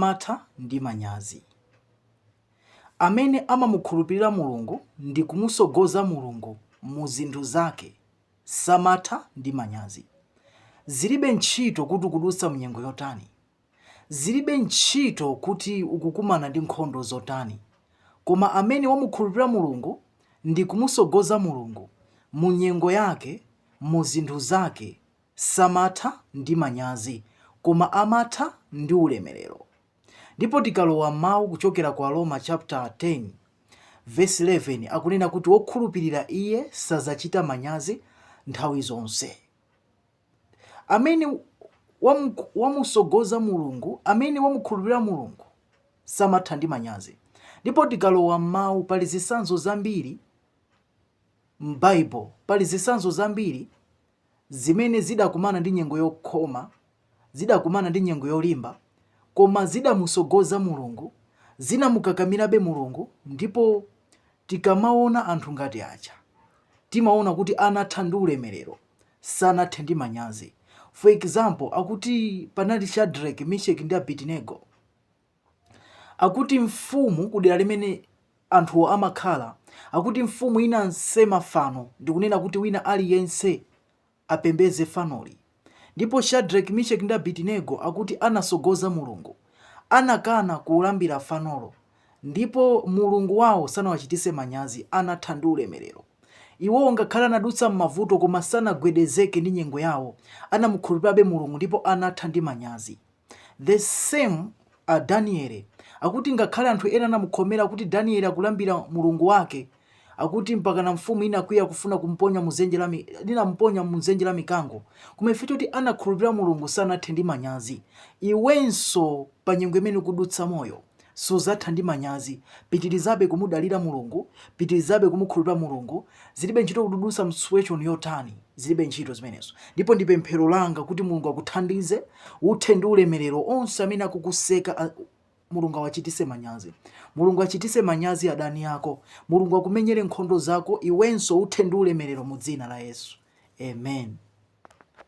amatha ndi manyazi. Amene amamukhulupirira Mulungu ndi kumusogoza Mulungu mu zinthu zake samatha ndi manyazi. Zilibe ntchito kuti ukudutsa mnyengo yotani. Zilibe ntchito kuti ukukumana ndi nkhondo zotani. Koma amene wamukhulupirira Mulungu ndi kumusogoza Mulungu mu nyengo yake, mu zinthu zake, Samatha ndi manyazi, koma amatha ndi ulemerero. Ndipo tikalowa m'mau kuchokera kwa Aroma chapter 10 vesi 11 akunena kuti wokhulupirira iye sazachita manyazi nthawi zonse. Amene wamusogoza Mulungu, amene wamukhulupirira Mulungu samatha ndi manyazi. Ndipo tikalowa m'mau pali zisanzo zambiri m'Bible, pali zisanzo zambiri zimene zidakumana ndi nyengo yokhoma, zidakumana ndi nyengo yolimba, koma zidamusogoza Mulungu, zinamukakamirabe Mulungu, ndipo tikamaona anthu ngati aja, timaona kuti anatha ndi ulemerero, sanathe ndi manyazi. For example, akuti panali Shadrack, Misheck ndi Abednego. Akuti mfumu kudera limene anthuwo amakhala, akuti mfumu inansema fano ndi kunena kuti wina aliyense apembeze fanoli. Ndipo Shadreki, Misheki ndi Abitinego akuti anasogoza Mulungu, anakana kulambira fanolo ndipo Mulungu wao sanawachitise manyazi, anatha ndi ulemerero. Iwowo ngakhale anadutsa m'mavuto koma sanagwedezeke ndi nyengo yao, anamukhulupirabe Mulungu ndipo anatha ndi manyazi. The same a Daniele akuti ngakhale anthu ena anamukhomera kuti Daniele akulambira mulungu wake akuti mpakana mfumu inakwiya kufuna kumponya muzenje la inamponya munzenje la mikango koma chifukwa choti anakhulupirira mulungu sanathe ndi manyazi iwenso pa nyengo imene ukudutsamoyo Suzatha ndi manyazi. Pitilizabe kumudalira Mulungu, pitilizabe kumukhulupira Mulungu, zilibe ntchito kuti ukudusa msituation yotani, zilibe ntchito zimenezo. Ndipo ndi pemphero langa kuti Mulungu akuthandize, uthe ndi ulemelero, onse amene akukuseka Mulungu awachitise manyazi. Mulungu achitise manyazi adani ako, Mulungu akumenyele nkhondo zako, iwenso uthe ndi ulemelero mu dzina la Yesu. Amen.